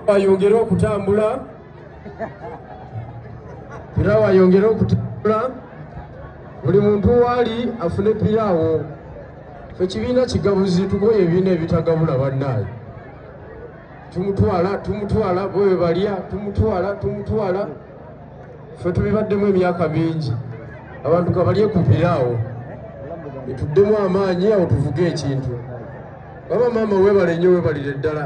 wayongere okutambula era wayongere okutambula buli muntu waali afune piraawo ekibiina kigabuzi tugoye ebibiina ebitagabula bannaayo tumutwala tumutwala bwewe balya tumutwala tumutwala fe tubibaddemu emyaka mingi abantu kabalye ku piraawo etuddemu amaanyi awo tuvuge ekintu baba maama webale nnyo webalire ddala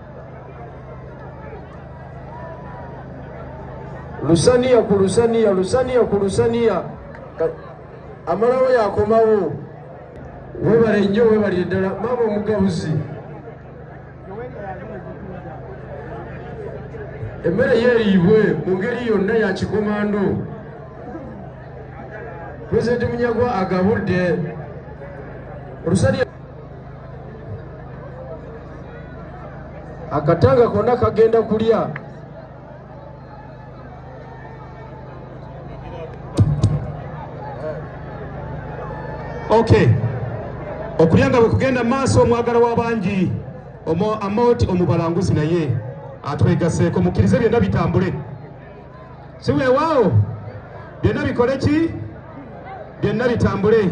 lusaniya ku lusaniya lusaniya ku lusaniya amalawo yakomawo webale nnyo webalire ddala maama omugabuzi emmere yeeriibwe mu ngeri yonna ya kikomando pulezidenti munyagwa agabudde olusalya akatanga konna kagenda kulya okay okulya nga bwe kugenda maaso omwagala w'abangi amoti omubalanguzi naye atwegaseeko mukkirize byonna bitambule si weewaawo byonna bikole ki byonna bitambule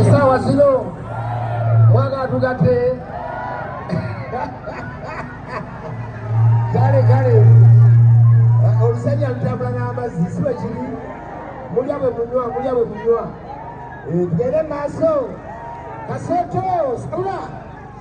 esawa zino mwaga atugate kale kale olusajja lutambula n'amazzi si bwe kiri mulya bwe munywa mulya bwe munywa tugende maaso kasooto sabula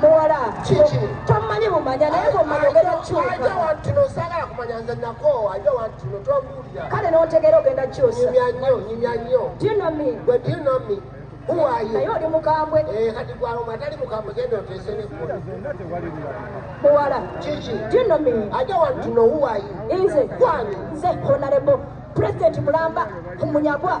muwala tomanyi bumanya naye bwomanyi ogenda kyusaakale notegeera ogenda kyusaunamibwedinami naye oli mukambwe muwala dinami nze nze honarebo president mulamba munyagwa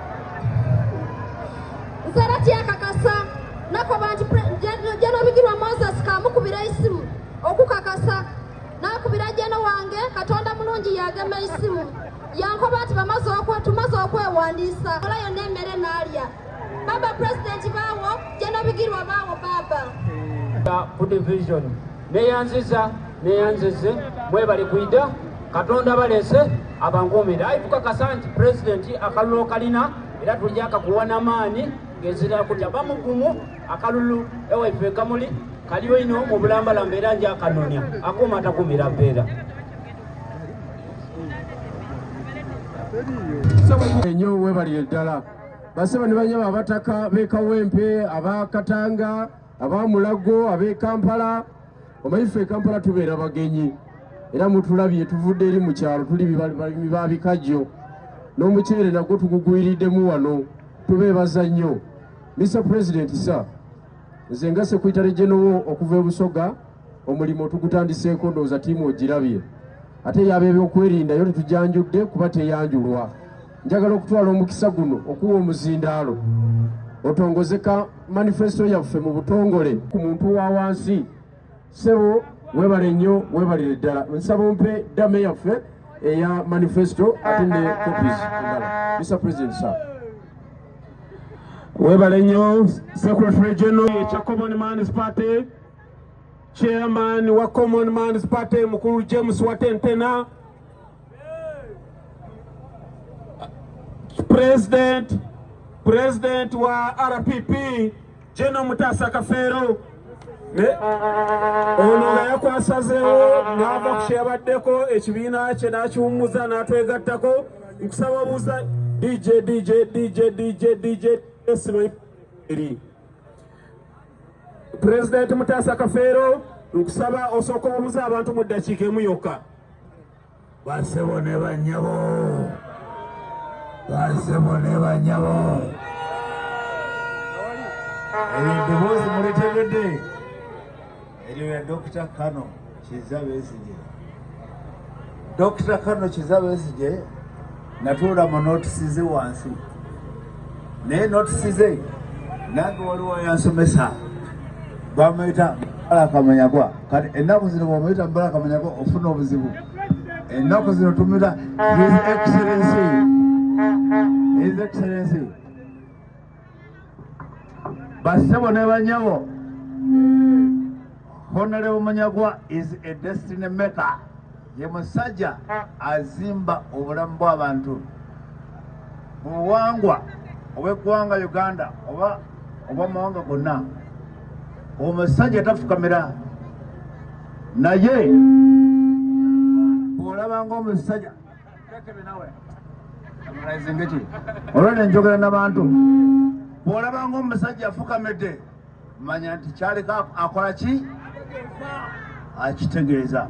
nsera kyakakasa nakoba nti jenobigirwa moses kamukubira isimu okukakasa nakubira jeno wange katonda mulungi yagema isimu yankoba nti tumaze okwewandiisa ola yonna emmere nalya baba president bawo jenobigirwa bawo baba ku division neyanziza neyanzize mwebale kwida katonda balese abankuumire ayi tukakasa nti pulezidenti akalulu kalina era tujja kakuwa namaani ngezira kutya bamugumu akalulu ewaife kamuli kaliyo ino mu bulambalamba era nja akanonya akuuma atakumira mpeera enyo webalire ddala basaba ne banyama abataka bekawempe abakatanga aba Mulago ab'e Kampala omanyi ffe e Kampala tubeera bagenyi era mutulabye tuvudde eri mu kyalo tuli balimi ba bikajjo n'omuceere nagwo tugugwiriddemu wano tubeebaza nnyo Mr President sa nze nga sekwitale gyenowo okuva e Busoga omulimu tugutandiseeko ndowooza tiimu ogirabye ate yaba ebyokwerinda yo tetujanjudde kuba teyanjulwa njagala okutwala omukisa guno okuwa omuzindaalo otongozeka manifesto yaffe mu butongole ku muntu wa wansi sebo webale nnyo webalire ddala nsaba ompe dame yaffe eya manifesto ate ne copies endala mr president sir webale nnyo secretary general ekya common mans party chairman wa common mans party mukulu james watentena President, President wa RPP General Mutasa Kafeero ono nga yakwasazeewo n'ava ku kyeyabaddeko ekibiina kye n'akiwummuza n'atwegattako nkusaba buuza dj dj dj dj dj esimairi pulezidenti mutaasa kafeero nkusaba osooka obuuza abantu mu ddakiika emu yokka basebo ne banyabo basebo ne banyabo eddoboozi mulitegedde eryo ya dokita kano kiza bezige dokita kano kiza bezige natuula mu notisi ze wansi naye notisi ze nange waliwo yansomesa bamuyita mbala kamanyagwa kati ennaku zino bwamuyita mbala kamanyagwa ofuna obuzibu ennaku zino tumuyita his excellency his excellency Basebo ne banyabo. Honorable Munyagwa is a destiny maker. Ye musajja azimba obulamu bw'abantu mu buwangwa obw'eggwanga Uganda oba obw'amawanga gonna. Omusajja tafukamira naye bw'olaba ng'omusajja olwo ne njogera nabantu bw'olaba ng'omusajja afukamidde manya nti kyaleka akola ki akitegeeza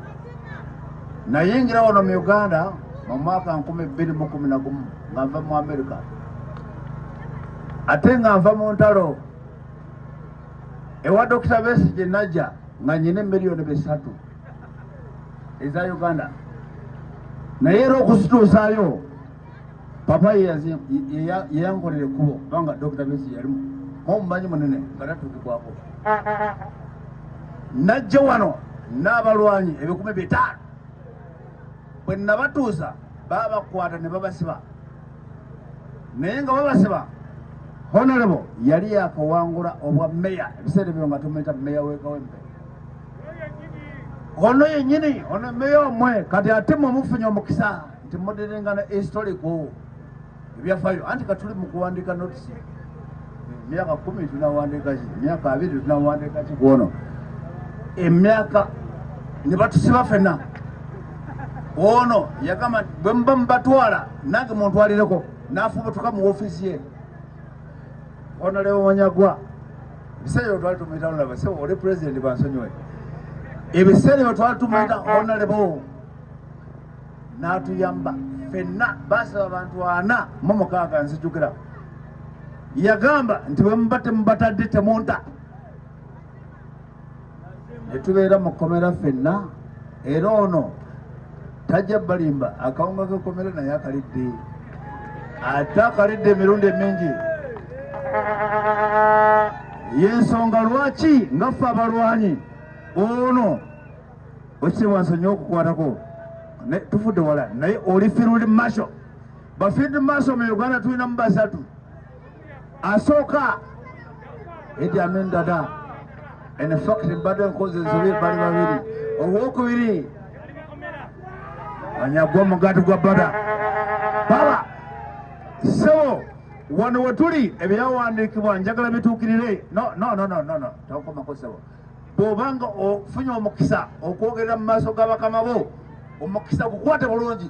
nayingira wano mu uganda mu mwaka nkumi bbiri mu kumi na gumu nga nva mu amerika ate nga nva mu ntalo ewa dokita besi gye najja nga nyina emiliyoni bisatu eza Uganda naye era okuzituusayo papa yeyankolera ekkubo kubanga Dokita Bezi yalimu omumanyi munene nga tatuukikwako najja wano n'abalwanyi ebikumi bitaano bwe nabatuusa babakwata ne babasiba naye nga babasiba honorable yali yakawangula obwa meya ebiseera ebyo nga tumuyita meya wekawempe ono yenyini ono meya omwe kati ate mwe mufunye omukisa nti mudirengana historico ebyafayo anti katuli mukuwandika notisi emyaka kumi tunawandikaki emyaka abiri tunawandikaki kwono emyaka nebatusiba fena ono yagamba bwe muba mubatwala nange muntwalireko nafubutuka mu ofiisi ye ono lewo wanyagwa ebiseera ebyo twali tumuyita lulaba se oli pulezidenti bansonyiwe ebiseera ebyo twali tumuyita onalebo n'atuyamba fenna baasaba abantu ana mu mukaaga nzijukira yagamba nti bwemuba temubatadde temunta ne tubeera mu kkomera ffenna era ono tajja balimba akawunga k'ekkomera naye akalidde ate akalidde emirundi emingi yensonga lwaki nga ffe abalwanyi ono ekitiibwa nsonyi okukwatako tufudde wala naye oli field marshal ba field marshal mu uganda tulinamu basatu asooka Idi Amin Dada in fact mbadde nkoze ensobi bali babiri owokubiri anyagwa omugaati gwa bada baba sebo wano wetuli ebyawandiikibwa njagala bituukirire no no no no no tokomako sebo bw'obanga ofunye omukisa okwogerera mu maaso ga bakama bo omukisa gukwate bulungi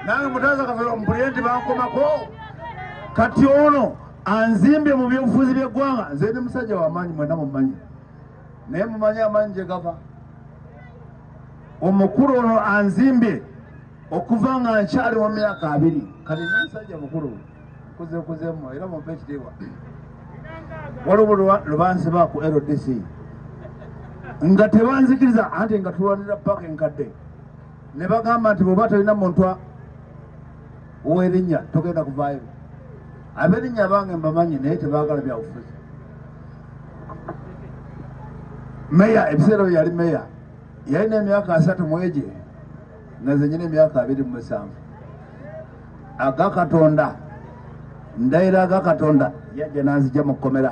nange mutaza kafero mpulire nti bankomako kati ono anzimbye mu byobufuzi byeggwanga nze ndi musajja wamaanyi mwena mumanyi naye mumanyi amaanyi gye gava omukulu ono anzimbye okuva nga nkyali mu myaka abiri kati ndi musajja mukulu kuze kuze mu era mu page dewa waliwo lubansi ba ku LDC nga tebanzikiriza anti nga tulwanira paka enkadde ne bagamba nti bweoba tolina muntu owerinnya togenda kuvaayo aberinnya bange mbamanyi naye tebagala byabufuzi meya ebiseera bye yali meya yalina emyaka asatu mwegye naze nyina emyaka abiri mu musanvu aga katonda ndayira aga katonda yajja nanzija mu kkomera